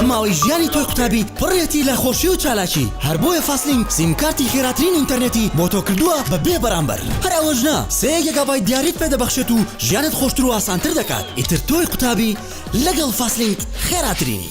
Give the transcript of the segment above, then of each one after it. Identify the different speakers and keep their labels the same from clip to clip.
Speaker 1: ئەم ماوەی ژیانی تۆی قوتابی پڕێتی لە خۆشی و چالاکی هەر بۆیە فاستلینک سیمکارتی خێراترین ئینتەرنێتی بۆ تۆ کردووە بە بێ بەرامبەر هەر ئەوەش نا سێ گێگابای دیاریت پێ دەبەخشێت و ژیانت خۆشتر و ئاسانتر دەکات ئیتر تۆی قوتابی لەگەڵ فاستلینک خێراترینی.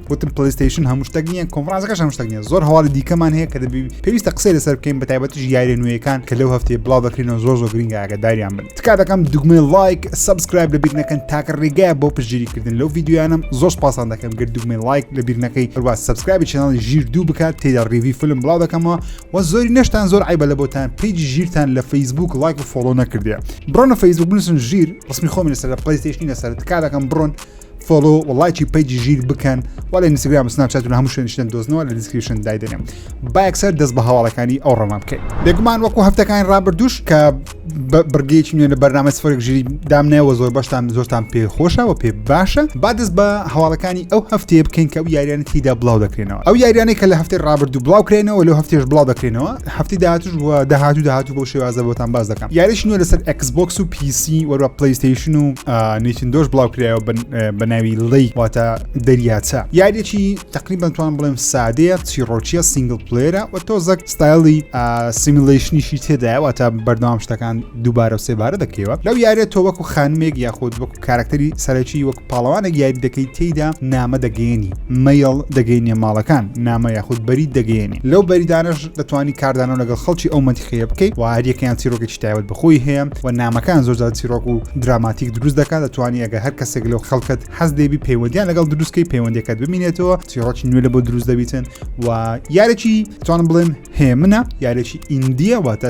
Speaker 2: وتم پلیستیشن هەموو شتێک نییە کۆنفرانسەکەش هەموو شتێک نییە زۆر هەواڵی دیکەمان هەیە کە دەبی پێویستە قسەی لەسەر بکەین بە تایبەتیش یاریە نوێیەکان کە لەو هەفتەیە بڵاو دەکرینەوە زۆر زۆر گرنگ ئاگداریان بن تکا دەکەم دوگمە لایک سبسکرایب لەبیر نەکەن تاکە ڕێگای بۆ پشگیریکردن لەو یددیویانم زۆر پاسان دەکەم گرد دوگمە لایک لەبیر نەکەی هەروە سبسکرایبی چناڵی ژیر دوو بکات تێدا ڕیوی فلم بڵاو دەکەمەوە و زۆری نەشتان زۆر عیبە لە بۆتان پیج ژیرتان لە فەیسبوک لایک و فۆڵۆ نەکردێ بڕۆنە فەیسبوک بنووسن ژیر ڕسمی خۆمی لەسەر لە پلیستیشنی لەسەر تکا دەکەم بڕۆن فۆلۆ و لایکی پەیجی ژیر بکەن و لە ئینستاگرام سناپچات و هەموو شوێنشتن دۆزنەوە لە دیسکریپشن دایدەنێم با یەکسەر دەست بە هەواڵەکانی ئەو ڕۆمان بکەین بێگومان وەکو هەفتەکانی ڕابردوش کە بڕگەیەکی نوێ لە بەرنامە سفرێک ژیری دامنەوە زۆر بەشتان زۆرتان پێ خۆشەوە پێ باشە با دەست بە هەواڵەکانی ئەو هەفتەیە بکەین کە ئەو یاریانە تیدا بڵاو دەکرێنەوە ئەو یاریانەی کە لە هەفتەی ڕابردوو بڵاوکرێنەوە لە هەفتێش بڵاو دەکرێنەوە هەفتی داهاتوش و داهاتوو داهاتوو بۆ شێوازە بۆتان باز دەکەم یاریش نوێ لەسەر ئەکسبکس و پیسی وەروە پلیستیشن و نیچندۆش بڵاو کرایەوە بە ناوی ڵی واتە دەریاچە یاریەکی تقریبان توان بڵێم سادەیە چیڕۆچیە سنگل پلێرە و تۆزەک ستایلی سیمیلیشنیشی تێدایەوە تا بەردەوام شتەکان دووبارە و سێبارە دەکەوە لەو یاریە تۆ وەکو خانمێک یاخود وەکو کارەکتەری سەرەکی وەک پاڵەوانێک یاری دەکەی تێیدا نامە دەگەێنی مەیڵ دەگەینە ماڵەکان نامە یاخود بەری دەگەێنی لەو بەریدانش دەتوانانی کاردانەوە لەگەڵ خەڵکی ئەو مەنتیقەیە بکەیت و هەریەکەیان چیرۆکێکی تایبەت بخۆی هەیە و نامەکان زۆرجار چیرۆک و دراماتیک دروست دەکات دەتوانانی ئەگە هەر کەسێک لەو خەڵکت حەز دەبی پەیوەندیان لەگەڵ دروستکەی پەیوەندەکەت ببینێتەوە چیرۆکی نوێ لە بۆ دروست دەبیتن و یارێکی توانم بڵێم هێمنە یارێکی ئیندیە واتە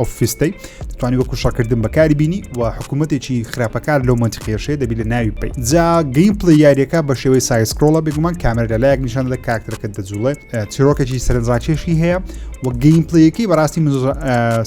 Speaker 2: ئۆفیستەی توانی وەکو شەکردن بەکاری بینی و حکوومەتێکی خراپەکار لەو منتخێشەیە دەبی لە ناوی پێی جا گەیم پلی یاریەکە بە شێوەی سایسکرۆڵە بگومان کامەر لە لایەک نیشان دە کاکتەکە دەجوڵێت چیرۆکێکی سەرنجڕاکێشی هەیە و گەیم پلیەکەی بەڕاستی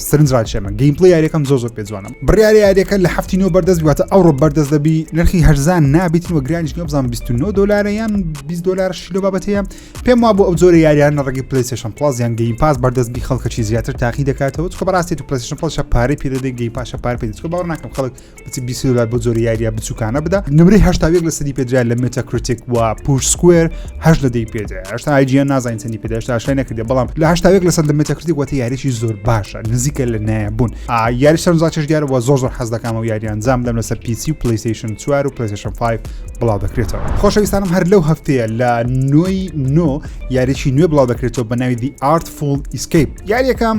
Speaker 2: سرنجڕاکێمە گەیم پلی یاریەکەم زۆ زۆر پێجوانم بڕیاری یاریەکە لە هەفتی نۆ بەردەست واتە ئەوڕۆ بەردەست دەبی نرخی هەرزان نابیتن و گرانیش نۆبزان 29 دلار یان 20 دلار شیلۆ بابەتەیە پێم وا بۆ ئەو جۆرە یاریانە ڕگی پلیسشن پلاس یان گەیم پاس بەردەست بی خەڵکە چی زیاتر تاقی دەکاتەوە چکە بەڕاستی تو پلیسشن پلشە پارەی پێ دەدەی گەی پاشە پار پێ چکە باوە ناکەم خەڵک بچی بیسلار بۆ جۆری یاریە بچووکانە بدا نمری هشتا یەک لە سەدی پێدرا لە مێتا کریتیک و پوش سکوێر هەش لە دەی پێدا هشتا ئایجیان نازانین چەندی پێدا هشتا شای نەکردێ بەڵام لە هشتا یەک لە سەد لە مێتا کریتیک وەتی یاریی زۆر باشە نزیکە لە نایبوون یاری سەرزاچش دیارەوە زۆر زۆر حەز دەکەمەوە یاریان زام دەم لەسەر پیسی و پلیسشن چوار و پلیسشن 5 بڵاو دەکرێتەوە خۆشەویستانم هەر لەو هەفتەیە لە نۆی نۆ یاریی نوێ بڵاو دەکرێتەوە بە ناوی دی ئارتفول ئیسکیپ یاریەکەم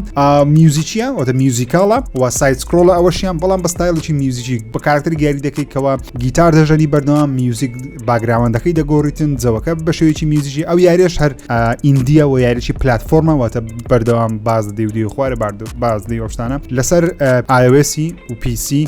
Speaker 2: میوزیکیە وەتە میوزیکاڵە و سایت سکرۆڵە ئەوەشیان بەڵام بە ستایلێکی میوزیکی بە کارکتەر یاری دەکەیتەوە گیتار دەژەنی بەردەوام میوزیک باگراوەندەکەی دەگۆڕیتن جەوەکە بە شێوەیەکی میوزیکی ئەو یاریش هەر ئیندیە و یاریی پلتفۆرمە واتە بەردەوام باز دەدی و دی خوارە باردو باز دی ئۆشتانە لەسەر ئاوێسی و پیسی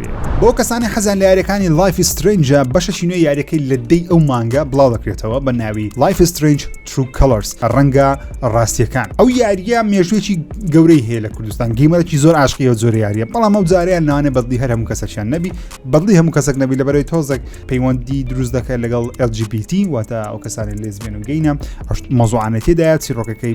Speaker 2: بێ. بۆ کەسانی حەزیان لە یاریەکانی لایف سترەینجە بەشەکی نوێ یاریەکەی لە دەی ئەو مانگە بڵاو دەکرێتەوە بە ناوی لایف سترەینج ترو کەڵەرس ڕەنگە ڕاستیەکان ئەو یاریە مێژوێکی گەورەی هەیە لە کوردستان گەیمەرەکی زۆر عاشقیەوە زۆر یاریە بەڵام ئەو جاریان نانێ بەدلی هەر هەموو کەسەکیان نەبی بەدلی هەموو کەسەک نەبی لە بەرەی تۆزێک پەیوەندی دروست دەکەن لەگەڵ LGBT واتە ئەو کەسانی لێزبێن و گەینە مەزوعانەتیدایە چیرۆکەکەی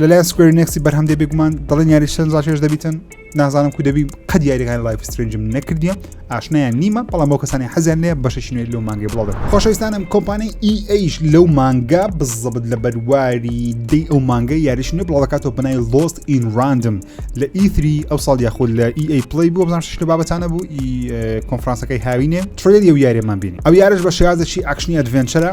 Speaker 2: لەلایەن سکوێری نێکسی بەرهەم دێ بێگومان دەڵێن یاری شەن زاشێش دەبیتن نازانم کو دەبی قەت یاریەکان لایف سترنجم نەکردیە ئاشنایان نیمە بەڵام بۆ کەسانی حەزیان لێ بەشەشینێ لەو مانگی بڵاو خۆشەویستانم کۆمپانی ئیئیش e لەو مانگا بزەبت لە بەرواری دی ئەو مانگە یاریش نوێ بڵاوکاتەوە بنای لۆست ئین راندم لە ئیتری e ئەو ساڵ یاخود لە ئی e پلی بوو بزانشت لە بابەتانە بوو ئی کۆنفرانسەکەی هاوینێ ترێلی و یاریمان بینی ئەو یارش بە شێازێکی ئەکشنی ئەدڤێنچەرە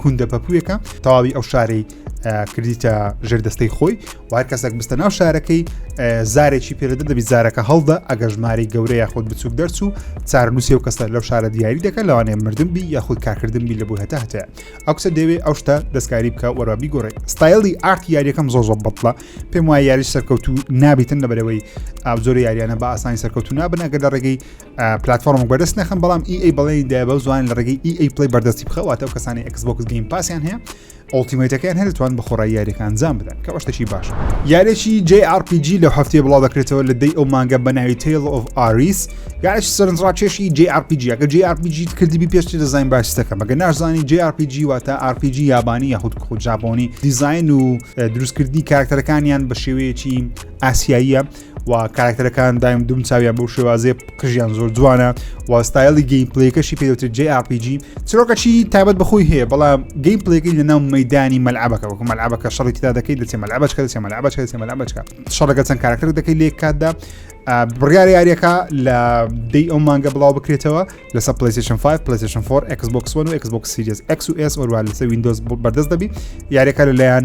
Speaker 2: کوندە پەپوویەکە تەواوی ئەو شارەی کردیتە ژێردەستەی خۆی و هەر کەسێک بستە ناو شارەکەی زارێکی پێدە دەبی زارەکە هەڵدا ئەگە ژماری گەورە یاخود بچووک دەرچوو چارنووسی و کەسە لەو شارە دیاری دەکەن لەوانێ مردن بی یاخود کارکردن بی لە بۆ هەتا هەتە ئەو کەسە دەوێ ئەو شتە دەستکاری بکە وەرابی گۆڕێ ستایلی ئارت یاریەکەم زۆ زۆ بەڵە پێم وایە یاری سەرکەوتو نابیتن لەبەرەوەی ئابزۆری یاریانە بە ئاسانی سەرکەوتو نابن ئەگەر لە ڕێگەی پلتفۆرم بەدەست نەخم بەڵام ئی ئەی بەڵێ دا بە زوان لە ڕێگەی ئی ئەی پلی بەردەستی بخەواتە و کەسانی ئەکسبکس گەیم پاسیان هەیە ئۆڵتیمەتەکەیان هەرتوان بە خۆڕای یاریەکان زان بدەن کە شتێکی باش یارێکی JRPG لە هەفتەیە بڵاو دەکرێتەوە لە دەی ئەو مانگە بەناوی تیل of ئاریس یاش سەرنجڕاکێشی JRPG ئەگە JRPG کردبی پێشتی دەزانین باشتەکە مەگە ناشزانانی JRPG واتە RPG یابانی یاخود خۆ جاپۆنی دیزین و دروستکردنی کارکتەرەکانیان بە شێوەیەکی ئاسیاییە و کاراکتەرەکان دایم دوم چاویان بەو شێوازێ قژیان زۆر جوانە و ستایلی گەیم پلەیەکەشی پێوتر جێ ئاپیجی چرۆکەچی تابەت بەخۆی هەیە بەڵام گەیم پلەکەی لە ناو مەدانی مەلعبەکە وەکو مەلعبەکە شەڕی تدا دەکەی دەچێ مەلعبەچکە دەچێ مەلعبەچکە دەچێ مەلعبەچکە شەڕەکە چەند کاراکتەر دەکەی لێک کاتدا بڕیار یاریەکە لە دی ئەو مانگە بڵاو بکرێتەوە لەسەر پلیسشن 5 پلیسشن 4 Xbox One و Xbox Series X و S ئۆروا لەسەر وینندۆز بەردەست دەبی یاریەکە لەلایەن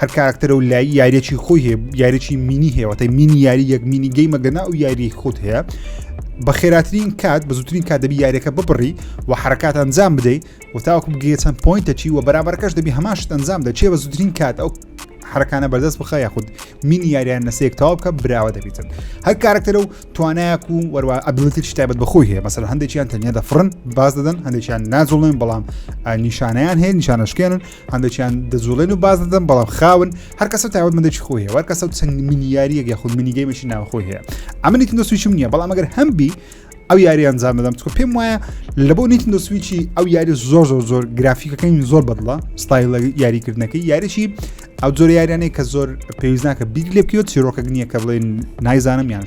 Speaker 2: هەر کاراکتەرە و لای یاریێکی خۆی هەیە یاریێکی مینی هێوەتە مینی یاری یەک مینی گەیمە گەنا و یاری خۆت هەیە بە خێراترین کات بە زووترین کات دەبی یاریەکە ببڕی و حرکات ئەنجام بدەیت و تاوەکو بگەیە چەند پوینتەچی و بەرابەرکەش دەبی هەماش ئەنجام دەچێ بە زووترین کات ئەو حرکانە بەردەست بخە یاخود مینی یاریان نسێک تاو بکە براوە دەبیتن هەر کارکتەرە و توانایەک و وەروە ئەبلتی شتابەت بەخۆی هەیە مەسەر هەندێکیان تەنیا دەفرن باز دەدەن هەندێکیان ناجوڵێن بەڵام نیشانیان هەیە نیشانەشکێنن هەندێکیان دەجوڵێن و باز دەدەم بەڵام خاون هەر کەسە تاوت مندێکی خۆی هەوار کەسە و چەند منیاریەک یا خود منیگەیمەشی ناوخۆی هەیە ئەمنی تندۆسویشم نییە بەڵام ئەگەر هەم بی ئەو یاری ئەنجام دەدەم چکە پێم وایە لە بۆ نیتن دەسویی ئەو یاری زۆر زۆر زۆر گرافیکەکەی زۆر بەدڵە ستایل لە یاریکردنەکەی یاریی ئەو زۆر یاریانەی کە زۆر پێویستناکە بیر لێ بکەوە چیرۆکە نییە کە بڵێن نایزانم یان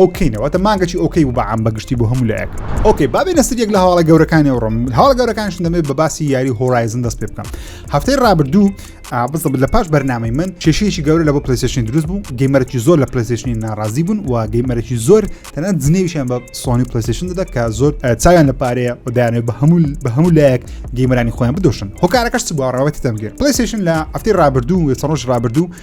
Speaker 2: ئۆکەی نەوەتە مانگەی ئۆکەی و بەعام بەگشتی بۆ هەموو لایەک ئۆکەی بابێ نەسر یەک لە هەواڵە گەورەکانی و ڕم هەواڵ گەورەکانش دەمێت بە باسی یاری هۆرایزن دەست پێ بکەم هەفتەی ڕابردوو بزە لە پاش بەرنامەی من کێشەیەکی گەورە لە بۆ پلیسشن دروست بوو گەیمەرەی زۆر لە پلیسشنی ناڕازی بوون و گەیمەرەی زۆر تەنە جنێویشیان بە سۆنی پلیسشن دەدا کە زۆر چاویان لە پارەیە و دایانێت بە هەموو بە هەموو لایەک گەیمەرانی خۆیان بدۆشن هۆکارەکەش بۆ ڕاوەتی دەمگێر پلیسشن لە هەفتەی ڕابردوو و چڕۆژ ڕابردوو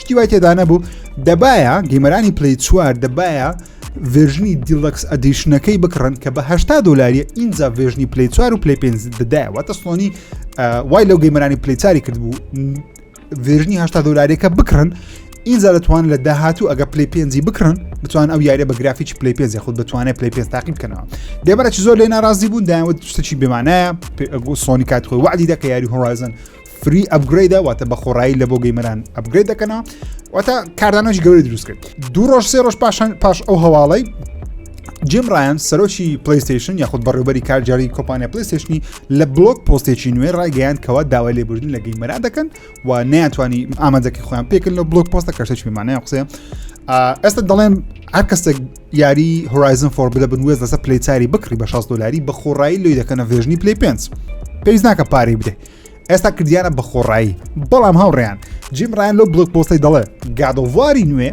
Speaker 2: شتی وای تێدانەبوو دەبایە گەیمەرانی پلی چوار دەبایە ڤێژنی دیلەکس ئەدیشنەکەی بکڕن کە بەهشتا دلاریە ئینجا ڤێژنی پلی چوار و پلی پێ دەدایواتە سۆنی وای لەو گەیمەرانی پلیچاری کردبوو ڤێژنی هشتا دلاریەکە بکڕن ئینجا دەتوان لە داهاتوو ئەگە پلی پێنجی بکڕن بتوان ئەو یاریە بە گرافیی پلی پێنج خود بتوانێت پلی پێ تاقی بکەنەوە دێبەرەی زۆر لێ ناڕازی بوون دایوت شتێکی بمانایە سۆنی کات خۆی وعدی دەکە یاری هۆرایزن فری ئەپگرەیدە واتە بە خۆڕایی لە بۆ گەیمەران ئەپگرێت دەکەنا واتە کاردانەش گەوری دروست کرد دوو ڕۆژ سێ ڕۆژ پاشان پاش ئەو هەواڵی جیم ڕایان سەرۆکی پلیستیشن یاخود بەڕێوبەری کارجاری کۆپانیا پلیستیشنی لە بلۆک پۆستێکی نوێ ڕایگەیان کەوا داوای لێبوردن لە گەیمەرا دەکەن و نیانتوانی ئامادەکی خۆیان پێکن لە بلۆک پۆستە کەشتێکی مانای قسێ ئێستا دەڵێن هەر کەسێک یاری هۆرایزن فۆر بدە بنوێز لەسەر پلیچاری بکڕی بە 16 دلاری بە خۆڕایی لێ دەکەنە ڤێژنی پلی پێنج پێویست ناکە پارەی بدەیت ئێستا کردیانە بە خۆڕایی بەڵام هاوڕێیان جیم ڕیان لەو بڵک پۆستی دەڵێ گادۆواری نوێ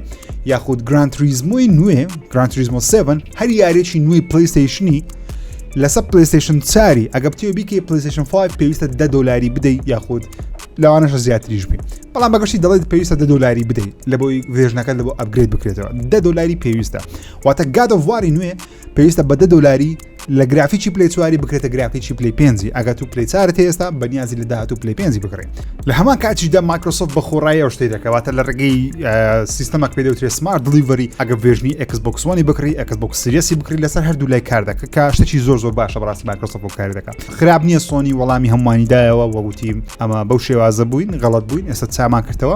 Speaker 2: یاخود گرانتریزمۆی نوێ گرانتریزمۆ 7 هەر یارێکی نوێی پلیستیشنی لەسەر پلیستیشن چاری ئەگە بتێ بیکە پلیستیشن 5 پێویستە دە دلاری بدەیت یاخود لەوانەشە زیاتریش بێ بەڵام بەگەشتی دەڵێت پێویستە دە دلاری بدەیت لە بۆی ڤێژنەکە لە بۆ ئەبگرێت بکرێتەوە دە دلاری پێویستە واتە گادۆواری نوێ پێویستە بە دە دلاری لە گرافیی پلی چواری بکرێتە گرافیی پلی پێنجی ئەگەت و پلی چارت هێستا بەنیازی لە داهات و پلی پێنجی بکڕین لە هەمان کاتیشدا مایکرۆسۆف بە خۆڕایی ئەو شتەی دەکەواتە لە ڕێگەی سیستەمەک پێ دەوترێت سمارت دلیڤری ئەگە ڤێژنی ئەکسبکسۆنی بکڕی ئەکسبک سریەسی بکری لەسەر هەردوو لای کار دەکە کە شتێکی زۆر زۆر باشە بەڕاستی مایکرۆسۆف بۆ کاری دەکات خراپ نییە سۆنی وەڵامی هەمووانی دایەوە وەگوتیم ئەمە بەو شێوازە بووین غەڵت بووین ئێستا چامان کردەوە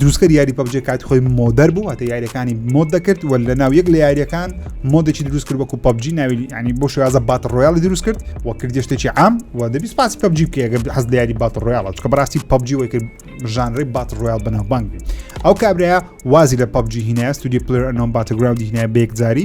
Speaker 2: دروستکەر یاری پەبجێ کاتی خۆی مۆدەر بوو هەتە یاریەکانی مۆد دەکرد و لە ناو یەک لە یاریەکان مۆدێکی دروست کرد وەکو پبجی ناوی ینی بۆ شێوازە بات ڕۆیاڵی دروست کرد و کردێشتێکی ئام و دەبی سپاسی پبجی بکەگە حەز لە یاری بات ڕۆیاڵە چکە بەڕاستی پبجی وەی کرد ژانڕی بات ڕۆیال بەناوبانگ بێت ئەو کابراە وازی لە پبجی هینە ستودی پلرنۆم باتەگراوندی هینە بێکجاری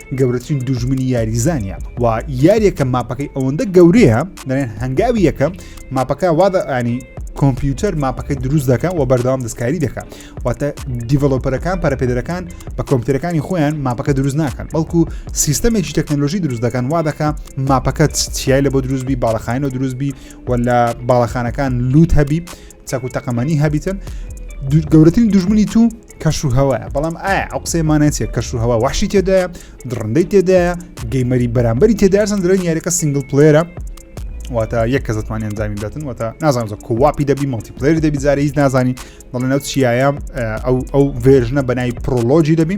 Speaker 2: گەورەترین دوژمنی یاریزانە و یاریەکە ماپەکەی ئەوەندە گەورەیە دەێن هەنگاوی یەکەم ماپەکە وادە ئانی کۆمپیوتەر ماپەکەی دروست دەکەن و بەردەوام دەستکاری دەکات واتە دیڤلۆپەرەکان پەرپێدەرەکان بە کۆمپیوتەرەکانی خۆیان ماپەکە دروست ناکەن بەڵکو سیستەمێکی تەکنەلۆژی دروست دەکەن وا دەکە ماپەکە چیای لە بۆ دروستبی باڵەخانەوە دروستبی و لە باڵەخانەکان لووت هەبی چاکو تەقەمەنی هەبیتن گەورەترین دژمنی تو کەش و هەوایە بەڵام ئایا ئەو قسەی مانەتە کەش و هەوا وحشی تێدایە دڕندەی تێدایە گەیمەری بەرامبەری تێدارسن درێن یاریەکە سنگل پلێرە واتە یەک کە زتمان ئەنجامی دەتن واتە نازان زە کوواپی دەبی مەڵتیپلێر دەبی زارە هیچ نازانی دەڵێن ئەو چیایە ئەو ئەو ڤێژنە بەنای پرۆلۆژی دەبی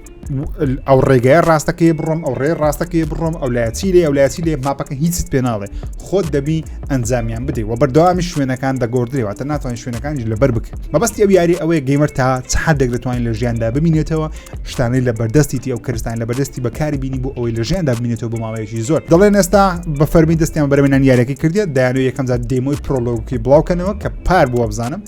Speaker 2: ئەو ڕێگای ڕاستەکەی بڕۆم ئەو ڕێ ڕاستەکەی بڕۆم ئەو لایچی لێ ئەو لایچی لێ ماپەکە هیچت پێ ناڵێ خۆت دەبی ئەنجامیان بدەی و بەردەوامی شوێنەکان دەگۆدرێواتە ناتوانین شوێنەکانیش لەبەر بکە مەبەستی ئەو یاری ئەوەیە گەیمەر تا چحدێک دەتوانین لە ژیاندا ببینێتەوە شتانەی لە بەردەستیتی ئەو کەستان لە بەردەستی بەکاری بینی بۆ ئەوەی لە ژیاندا بینێتەوە بۆ ماوەیەکی زۆر دەڵێن ئێستا بە فەرمی دەستیان بەرەمێنان یارەکە کردێت دایانەوە یەکەمزار دێمۆی پرۆلۆگی بڵاوکەنەوە کە پار بووە بزانم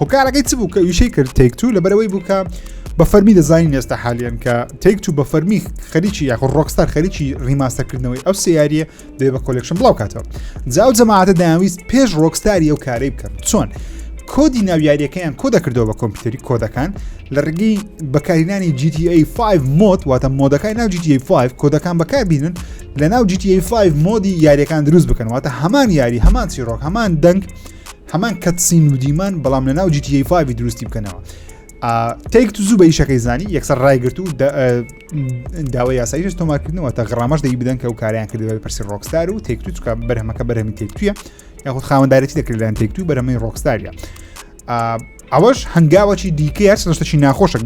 Speaker 2: هۆکارەکەی چ بوو کە ویشەی کرد تێک تو لەبەرەوەی بوو کە بە فەرمی دەزانین ئێستا حالیان کە تێک تو بە فەرمی خەریکی یاخ ڕۆکستار خەریکی ڕیماستەکردنەوەی ئەو سیاریە دێ بە کۆلکشن بڵاو کاتەوە جاو جەماعاتە داویست پێش ڕۆکستاری ئەو کارەی بکەن چۆن کۆدی ناویاریەکەیان کۆ دەکردەوە بە کۆمپیوتەری کۆدەکان لە ڕگەی بەکارینانی GTA 5 مۆد واتە مۆدەکان ناو GTA 5 کۆدەکان بەکاربیێنن لە ناو GTA 5 مۆدی یاریەکان دروست بکەن واتە هەمان یاری هەمان چیرۆک هەمان دەنگ هەمان کەتسین ودیمان بەڵام لە ناو جیتیی فاوی دروستی بکەنەوە تێک تو زوو بە یشەکەی زانی یەکسەر ڕایگررت و داوای یاساییش تۆمارکردنەوە تا غڕامەش دەی بدەن کە و کاریان کردەوە پرسی ڕۆکستار و تێک تو چکە بەرهەمەکە بەرەمی تێک توە یاخود خاوەنددارەتی دەکردیان تێک تو بەرەمەی ڕۆکستاریە ئەوەش هەنگاوەی دیکە هەر شتەکی ناخۆشە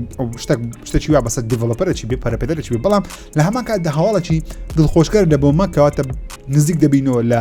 Speaker 2: شتێک شتەکی وا بەسە دیڤلپەرەی بێ پەرپێدەرەی بێ بەڵام لە هەمان کات دە هەواڵەکی دڵخۆشکەر لە بۆ مەکەواتە نزیک دەبینەوە لە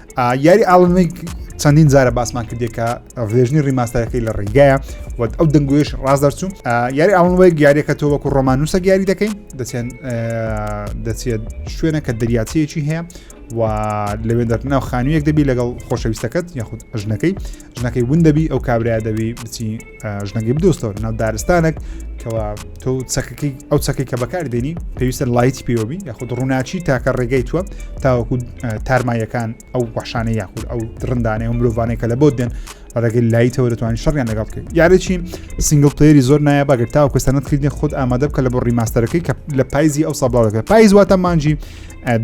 Speaker 2: یاری ئاڵنێک چەندین جارە باسمان کردێکە ڤێژنی ڕیماستەرەکەی لە ڕێگایە وەت ئەو دەنگوێش ڕاز دەرچوو یاری ئاڵنوەیەک یاریەکە تۆ وەکو ڕۆمانوسە یاری دەکەین دەچێن دەچێت شوێنە کە دەریاچەیەکی هەیە و لەوێ دەرناو خانوویەک دەبی لەگەڵ خۆشەویستەکەت یاخود ژنەکەی ژنەکەی ون دەبی ئەو کابراە دەبی بچی ژنەکەی بدۆستەوە ناو دارستانێک کەوا تۆ چەکەکەی ئەو چەکەی کە بەکار دێنی پێویستە لایتی پێوەبی یاخود ڕووناچی تاکە ڕێگەی تووە تاوەکو تارمایەکان ئەو بەشانەی یاخود ئەو درندانەی و مرۆڤانەیە کە لە بۆ دێن ڕێگەی لایتەوە دەتوانین شەڕیان لەگەڵ بکەین یاریی سنگل پلیری زۆر نایە بەگەر تاو کەسانت کردنی خود ئامادە بکە لە بۆ ڕیماستەرەکەی کە لە پایزی ئەو سابڵاوەکە پایز واتە مانجی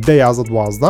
Speaker 2: دە یازە دوازدە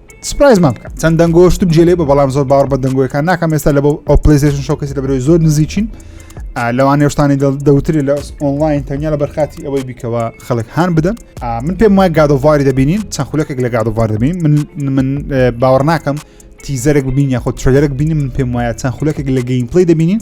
Speaker 2: سپرایزمان بکە چەند دەنگۆشتم جێلێ بە بەڵام زۆر باوەڕ بە دەنگۆیەکان ناکەم ئێستا لە بۆ ئەو پلیزیشن شوکەسی لە برۆی زۆر نزیکین لەوان نێشتانی دەوتری لە ئۆنلاین تەنیا لە بەرخاتی ئەوەی بیکەوە خەڵک هاان بدەن من پێم وای گادۆڤاری دەبینین چەند خولەکێک لە گادۆڤار دەبین من من باوەڕ ناکەم تیزەرێک ببین یاخۆ ترێلەرێک بینی من پێم وایە چەند خولەکێک لە گەیم پلی دەبینین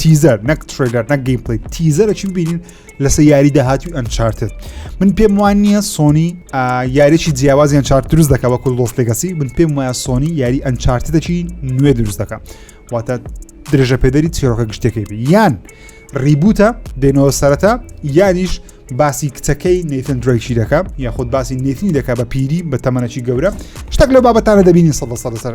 Speaker 2: تیزەر نەک ترلەر نەک گەیم پلی تیزەرە چی ببینین لەسەر یاری داهاتوی ئەنچارتت من پێم وان نییە سۆنی یاریی جیاوازی ئەنچارت دروست دەکە وەکو لۆس لەگەسی من پێم وایە سۆنی یاری ئەنچارتدەکی نوێ دروست دەکە واتە درێژە پێدەری چیرۆکە گشتەکەی بی یان ریبوتە دێنەوە سەرەتا یانیش باسی کچەکەی نیتن درێکی دەکە یاخود باسی نیتنی دەکە بە پیری بە تەمەەکی گەورە شتێک لە بابەتانە دەبینی سە سەر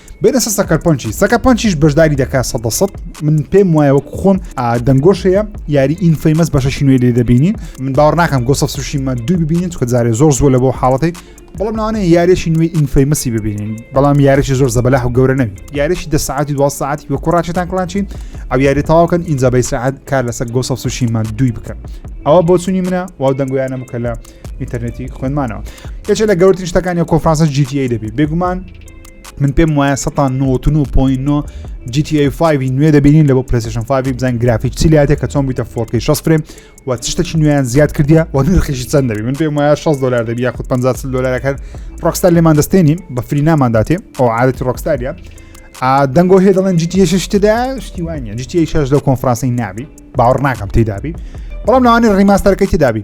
Speaker 2: بێنە سە سەکەرپۆنچی سەکەپۆنچیش بەشداری دەکات سە دە سەد من پێم وایە وەک خۆم دەنگۆشەیە یاری ئین فەیمەس بەشەشی نوێ لێ دەبینین من باوەڕ ناکەم گۆسە سوشیمە دوو ببینین چکە جارێ زۆر زۆر لە بۆ حاڵەتی بەڵام ناوانەیە یارێکی نوێی ئینفەیمەسی ببینین بەڵام یارێکی زۆر زەبەلاح و گەورە نەوی یارێکی دە ساعتی دو ساعتی وە کوڕاچێتان کلانچین ئەو یاری تاواکەن ئینجا بەی ساعت کار لەسەر گۆسە سوشیمان دوی بکەن ئەوە بۆچوونی منە واو دەنگویانە بکە لە ئینتەرنێتی خوێنمانەوە یەکێ لە گەورترین شتەکانی کۆفرانسە GTA دەبی بێگومان من پێم وایە 1999 GTA5 نوێ دەبینین لە بۆ پرسشن 5 بزان گرافیک چی لاتێ کە چۆن بیتە فۆرکی 6 فرێم و چشتەکی نوێیان زیاد کردیا و نرخیشی چەند دەبی من پێم وایە 6 دلار دەبی یاخود 50 دلارەکان ڕۆکستار لێمان دەستێنین بە فری نامانداتێ ئەو عادەتی ڕۆکستاریە دەنگۆ هێ دەڵێن جیتیە شتدا شتی وانە جیتیە شش لەو کۆنفرانسی نابی باوەڕ ناکەم تێدابی بەڵام ناوانی ڕیماستەرەکەی تێدابی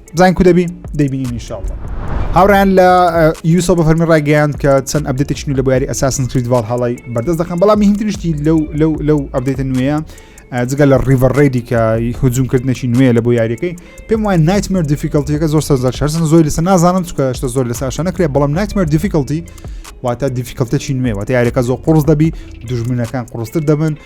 Speaker 2: بزانین کو دەبی دەبینین انشاءالله هاوڕیان لە یوسە بە فەرمی ڕایگەیاند کە چەند ئەبدێتێکی نو لە باری ئەساسن کردوال هەڵی بەردەست دەکەم بەڵام هینترشتی لەو لەو لەو ئەبدێتە نوێیە جگە لە ڕیڤەر ڕێدی کە هجوومکردنەی نوێ لە بۆ یاریەکەی پێم وای نایتمەر دیفیکلتیەکە زۆر سەر شەرسن زۆر لەسە نازانم چکە شتە زۆر لە ساشە نەکرێ بەڵام نایتمەر دیفیکلتی واتە دیفیکلتەی نوێ واتە یاریەکە زۆر قرس دەبی دژمنەکان قڕستر دەبن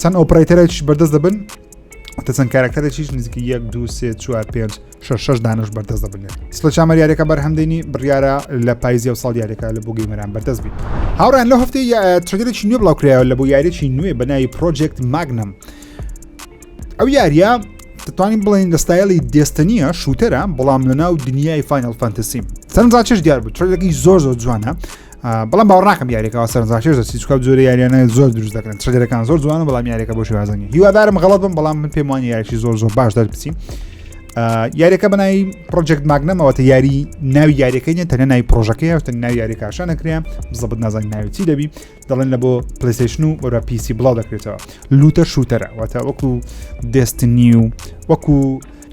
Speaker 2: چەند ئۆپراتەرێکیش بەردەست دەبن تە چەند کارکتەرێکیش نزیکە یەک دو سێ چوار پێ شش دانش بەردەست دەبنێت سڵ چامەر یاریەکە بەرهەمدەنی بڕیارە لە پایزی و ساڵ یاریەکە لە بۆ گەیمەران بەردەست بین هاوران لە هەفتی ترگەرێکی نوێ بڵاوکرایەوە لە بۆ یاریێکی نوێ بەناوی پرۆجێکت ماگنم ئەو یاریە دەتوانین بڵێن لە ستایلی دێستەنیە شووتەرە بەڵام لە ناو دنیای فینل فانتەسیم سەرنجاچش دیار بوو ترلەکەی زۆر زۆر جوانە بەڵام باوەڕ ناکەم یاریەکەەوە سەرنجڕاکێش دەچی چکە جۆرە یاریانە زۆر دروست دەکەن چگەرەکان زۆر جوانە بەڵام یاریەکە بۆ شێوازنی هیوادارم غڵت بم بەڵام من پێم وانی یاریی زۆر زۆر باش دەربچی یاریەکە بەنای پرۆجێکت ماگنەمەوەتە یاری ناوی یاریەکەی نیە تەنە ناوی پرۆژەکەی هەستە ناوی یاری کاشان نەکرێن بزەبت نازان ناوی چی دەبی دەڵێن لە بۆ پلیسشن و وەرە پیسی بڵاو دەکرێتەوە لوتە شووتەرە واتە وەکو دەستنی و وەکو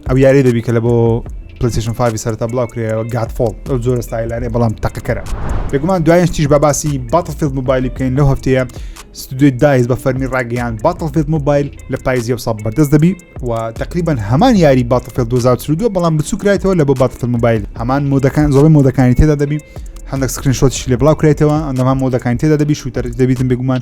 Speaker 2: ئەو یاری دەبی کە لە بۆ پلیسیشن فاوی سەرتا بڵاو کرێەوە گاتفۆڵ ئەو زۆرە ستایلانێ بەڵام تەقەکەرە بێگومان دوایش تیش بە باسی باتڵفیلد موبایلی بکەین لەو هەفتەیە ستودیوی دایز بە فەرمی ڕاگەیان باتڵفیلد موبایل لە پایزی و ساڵ بەردەست دەبی و تقریبان هەمان یاری باتڵفیل 2022 بەڵام بچووکرایتەوە لە بۆ باتڵفیل موبایل هەمان مۆدەکان زۆڵی مۆدەکانی تێدا دەبی هەندێک سکرین شۆتیش لێ بڵاو کرێتەوە ئەندەما مۆدەکان تێدا دەبی شووتەر دەبیتم بێگومان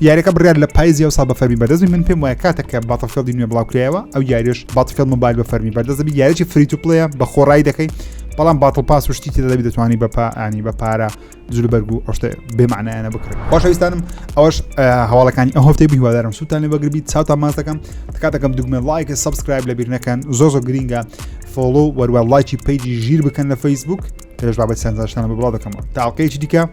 Speaker 2: یاریەکە بڕیار لە پایزی ئەوسا بە فەرمی بەدەزمی من پێم وایە کاتە کە باتەفێڵدی نوێ بڵاوکرایەوە ئەو یاریش باتەفێڵ مۆبایل بە فەرمی بەردەزمی یاریی فریت و پلیە بە خۆڕایی دەکەی بەڵام باتڵ پاس و شتیتی دەبی دەتوانانی بە پانی بە پارە زول بەرگو ئەوشتە بێمانایانە بکرێت باشویستانم ئەوش هەواڵەکانی ئەو هەفتەی بهوادارم سووتانی بەگربی چاوتان ماس دەکەم تکاتەکەم دوگمە لایکە سبسکرایب لە بیرنەکەن زۆ زۆ گرینگە فۆڵۆ وەروە لایکی پیجی ژیر بکەن لە فەیسبوک تێش بابەت سەنجاشتانە بڵاو دەکەمەوە تاقەیەکی دیکە